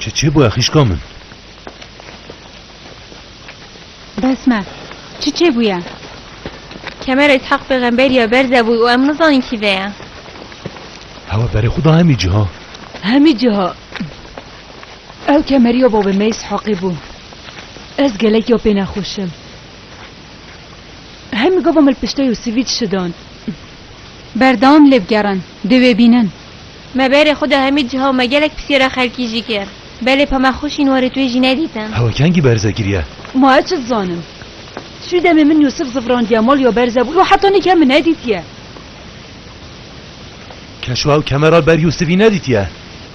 Çi çi bûye xîşka min? Bes me. Çi çê bûye? Kemer Isheq pêxember ya berze bûy û em nizanîn kî vê ye. Hewa berê xwe da hemî cîha. Hemî cîha. Ew kemeriyo bo bi mêz heqî bû. Ez gelekî yo pê nexweş im. Hemî gava min li piştê yo sivî dişidan. Berdewam lê bigerin, dê wê bînin. Me berê xwe da hemî ciha û me gelek pisyara xelkî jî kir. Belê pema xweşîn warê tu yê jî nedîtin. Hewa kengî berze giriye? Ma ez çi dizanim. Şû demê min Yûsif zivrandiye mal ya berze bû û heta nîk hemî nedîtiye. Keşû ew kemera li ber Yûsifî nedîtiye.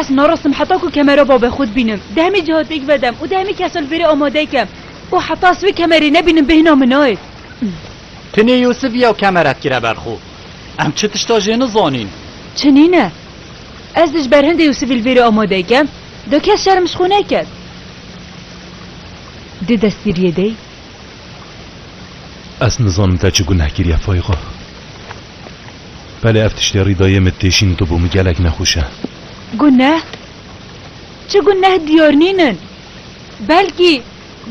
Ez narasim heta ku kemera babê xwe dibînim, di hemî ciha têk vedem û di hemî kesa li vêrê amade kem û heta ez wê kemerê nebînim bêhna min nayê. Tenê Yûsif ya kemeret kire ber xwe. Em çi tişta jê nizanîn. Çi nîne. Ez di ji ber hindê Yûsifî li vêrê amade kem, da kes şerm ji xwe neket. Dê destgiriyê dey. Ez nizanim te çi guneh kiriye Fayîqa. Belê ev tiştê rî dayê min tê şîn tibû min gelek nexweş e. Guneh? Çi guneh diyar nînin. Belkî,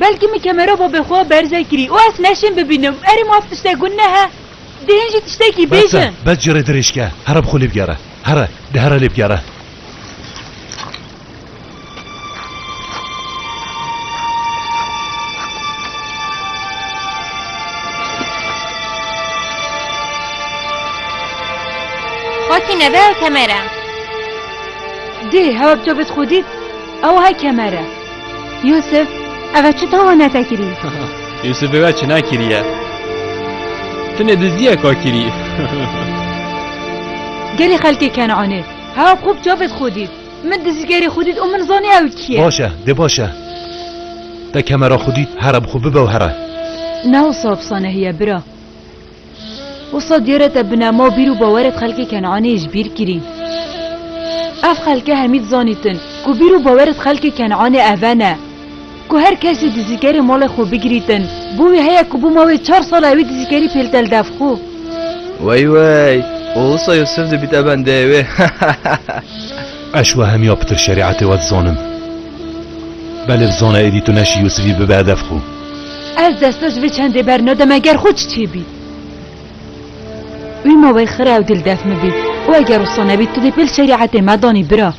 belkî min kemera babê xwe berze kirî û ez neşîn bibînim. Erê maf tiştek guneh e? Dê hîn jî tiştekî Bes e, bêjin. bes ji rê dirêj ke. Here bi xwe lê bigere. Here, dê here lê bigere. Xwestî nebe ew kemer e. Dê hewa bi to bit xwedît ew hay kemer e. Yûsif, ev e çi tawa netekirî? Yûsif êve çi nakiriye. Tine diziye ka kirî. Gelê xelkê Kenanê hewa xwe bi to bit xwedît. Min dizîgerê xwe dît û min zanî ew kî ye. Baş e, dê baş e. Te kemera xwe dît, here bi xwe bibew here. Ne wisa wisa nehî ye bira. Wisa diyare te bi nema bîr û bawerê di xelkê Kenanê ji bîr kirîn. Ev xelke hemî dizanîtin ku bîr û bawerê di xelkê Kenanê eve ne. Ku her kes jî dizîkerê malê xwe bigirîtin. Bo wî heye ku bûma wê çar sal e wî dizîkerî pêltel dev xwe. Wey wey! Û wisa Yûsif dibîte bendeyê wê. Eş wehemiya pitir şerîetê we dizanim. Belê bizane êdî tu neşî Yûsifî bibe dev xwe. Ez desta ji vê çendê bernadim eger xwe çi çê bît. Wî ma wey xira ew dil dev min bît. Û eger wisa nebît tu dê pêl şerîetê me danî bira.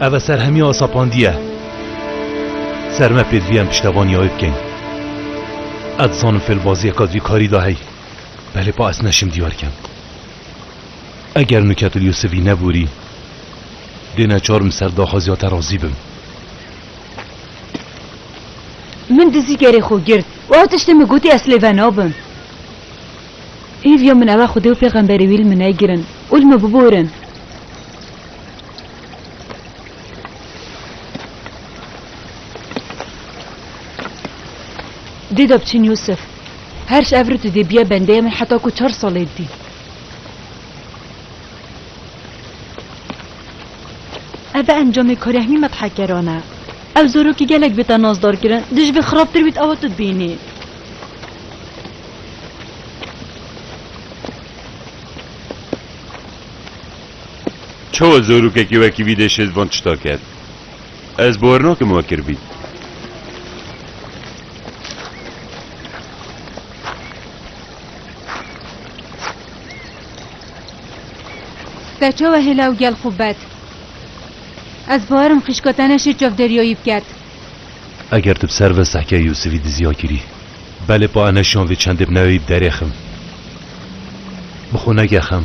Ev e serhemiya Asapandiye. Ser me pêdivî em piştevaniya wê bikein. Ez dizanim fêlbaziyek a divî karî da hey. Belê pa ez neşim diyar kem. Eger Nûketil Yûsivî neborî, dê neçarim ser daxwaziya te razî bim. Min dizî gerê xwe girt û ew tiştê min gotî ez lê venabim. Hêviya min ew e xwedê û pêxemberê wî li min negirin û li min biborin. Dê de biçin Yûsif. Her ji ev re tu dê biye bendeya min heta ku çar salê dibî. Ev e encamê karê hemî medhekeran e. Ew zorokî gelek bê te nazdar kirin, di ji vê xirabtir bît ewa tu dibînî. Çawa zorokekî wekî vî dê şêt van tişta ker? Ez bawer nakim we kiribî. Te çawa hêla û gel xwe bet? Ez bawerim xîşka te ne şêt çavdêriya wî biket. Eger tu bi ser ve sehkê Yûsivî diziya kirî. Belê pa enê şan vê çendê bi neweyî bi derê xim. Bi xwe neke xem.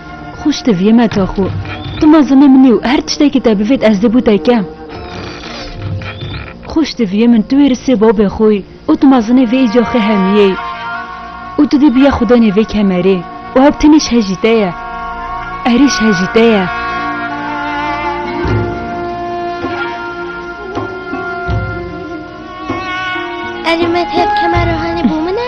Xwişk te viyê me ta xwe. Tu mezine min î û her tiştekî te bivêt ez dê bû te kem. Xwişk te viyê min tu wê risê babê xwe î û tu mezinê vê îca xê hemiyê î û tu dê bûye xwedayînê vê kemerê û ew tenê ji hejî te ye. Erê ji hejî te ye. Erê me têb kemera hanê bû min e?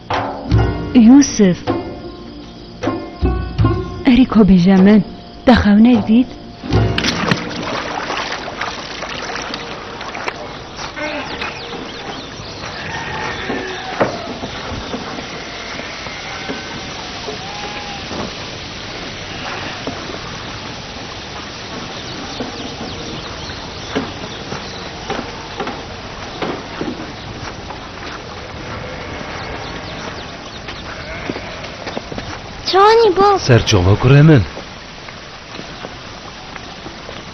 Yûsif! Erê ku bêje min, te xewnek dît? Çawanî bab. Ser çava kurê min.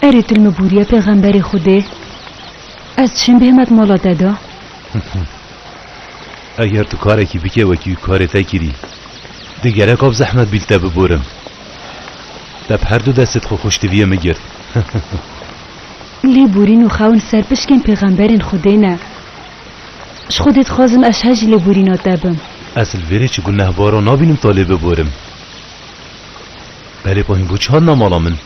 Erê til mi bûriye pêxemberê Xwedê. Ez çim bêhmet mala te de. Eger tu karekî bike wekî karê te kirî, di gereka bi zehmet bî li te biborim. Te bi herdu destê xwe xweştiviyê min girt. Lê bûrîn û xewin ser pişkên pêxemberên Xwedê ne. Ji Xwedê dixwazim ez her ji lêborîna te bim. Ez li vêrê çi gunehbaran nabînim ta lê biborim. Belê ku hîn bû çi hat na mala min?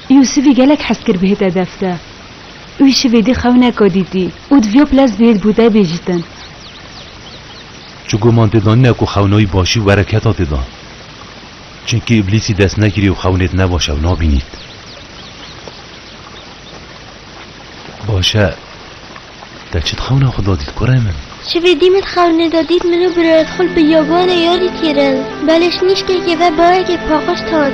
Yûsivî gelek hez kir bihêt edef te. Wî şivê dî xew neka dîtî û divya pilez bihêt bû te bêjtin. Çi guman tê da nîne ku xewna wî başî û bereketa tê da. Çimkî îblîsî dest nekirî û xewnêt nebaş ew nabînît. Baş e. Te çi di xewna xwe da dît kurê min? Şevê dî min di xewnê de dît min û birayê xwe li biyabanê ya dît kirin. Belê şnîşkekê ve bayekê paqij tan.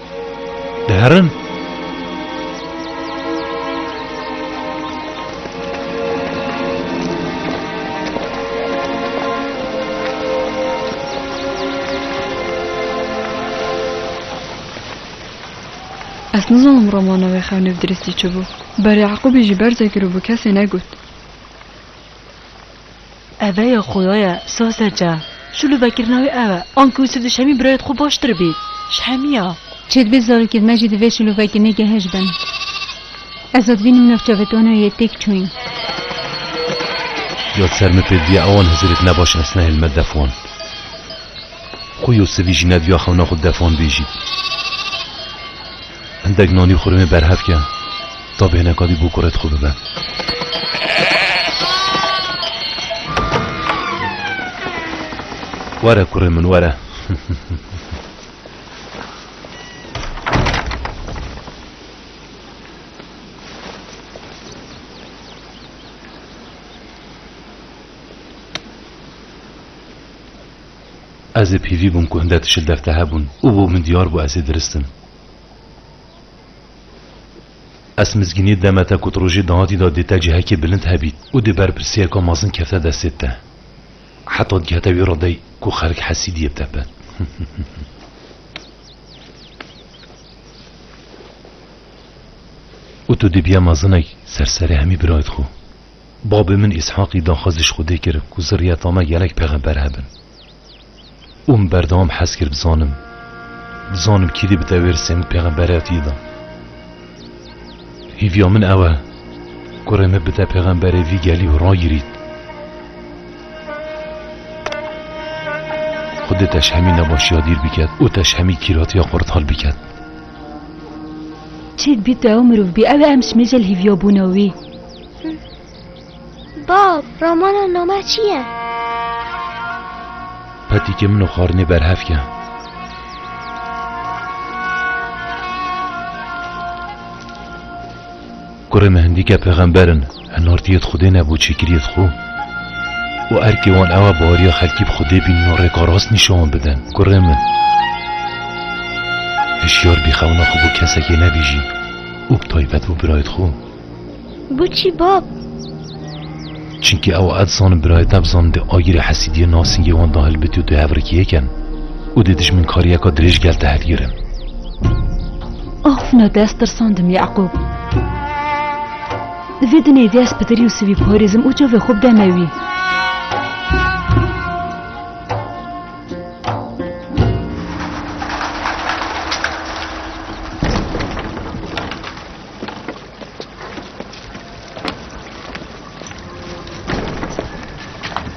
Diherin. Ez nizanim romana wê xewnê bi diristî çi bû. Berê Eqûbî jî berzekir û bi kesê negot. Eve ya xoya ye Saze ce. Şû li vekirina wî ew e. Anke wî siv dişemî birayê di xwe baştir bî. Ji hemî ya. Çê dibe zarokê me jî di vê şûlûvekirinê gehej bin. Ez a dibînim navça vê tanoyê yê têk çûyîn. Ya di ser min pêk diya ewan hizirek ne baş ez nehêl me def wan. Xwe yo sivî jî ne diya xewna xwe def wan bêjî. Hindek nanî xurmê berhev ke ta bêhne kadî bû kurê dixwe bibe. Were kurê min were. Ez ê pîvî bûm ku hinde tişil dev te hebûn û bo min diyar bû ez ê diristim. Est mizgînî deme te ku ti rojê dahatî de dê te cihekê bilind hebît û dê berpirsiyeka mezin kefte destê te. Heta digihete wî redeyî ku xelk hesîdiyê bi te bin. Û tu dê biya mezinek ser serê hemî birayt xwe. Babê min Îshaqî daxwaz ji Xwedê kir ku zirriyeta me gelek pexember hebin. Û min berdewam hez kir bizanim bizanim kîdî bi dewêr Semîd Pêxemberê hatî dan. Hîviya min ew e ku rê me bide pêxemberê vî gelî û ragirît. Xwedê te ji hemî nebaşiya dîr biket û te ji hemî kîratiya xwe rital biket. Çêd bî tu ew mirov bî ew e em ji mêjel hîviya bûna wî. Bab, romana nome çi ye? Petikê min û xwarinê berhev ke. Kurê me hindîke pêxember in, hinartiyê di Xwedê ne bo çêkiriyê di xwe. û erkê wan ew e bariya xelkî bi Xwedê bînin û rêka rast nîşan wan bidin. Kurê min, hişyar bî xewna xwe bo kesekê nebêjî û bi taybet bo birayê di xwe. Guçî bab. Çinkî ew ed zanin birayê te bizanin dê agîrê hesîdiyê nasîngê wan da hilbitî û tu hevrikî yê ken û dê dijminkariyeka dirêj gel te hilgirin. Of na dest tirsandim Yaqûb. Di vê dinê dest bi dir Yûsivî parêzim û çavê xwe bideme wî.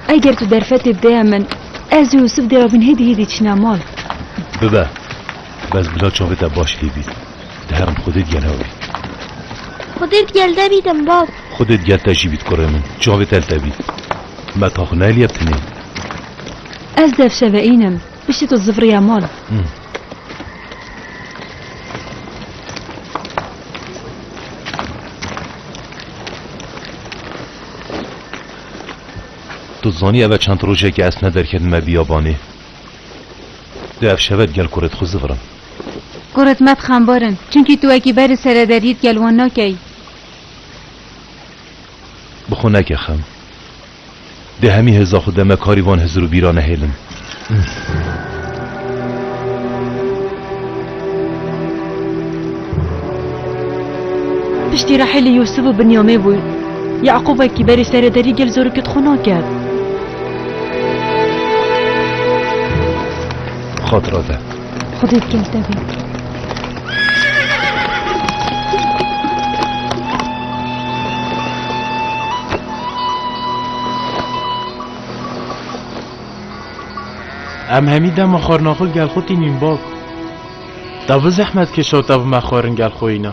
Eger tu derfetê bideye min, ez û Yusuf dê rabin hêdî hêdî çîna mal. Bibe. Bes bila çavê te baş lê bît. Di heram xwedê digel hew bî. Xwedê digel te bîtim bab. Xwedê digel te jî bît kurê min. Çavê te li te bît. Me ka xwe nayê liyeb tinê. Ez dev şeve înim. Piştî tu zivriya mal. Tu zanî ev e çend rojê ke ez tune derketime bîyabanê. Di ev şeve digel kurê di xwe zivirim. Kurê tune di xembar in. Çimkî tu wekî berê sere deriyê digel wan nakeyî. Bi xwe neke xem. Dê hemî hêza xwe de me karî van hizir û bîra nehêlin. Piştî Rehîlî Yûsûf û Binyamê bû. Yeqûb wekî berî serê derî gel zorokî dixwe naket. Xatira de. Xwedê bi gel te bê. Em hemî dema xwarina xwe gel xwe tînîn bab. Da bi zehmet kişota bi me xwarin gel xwe îna.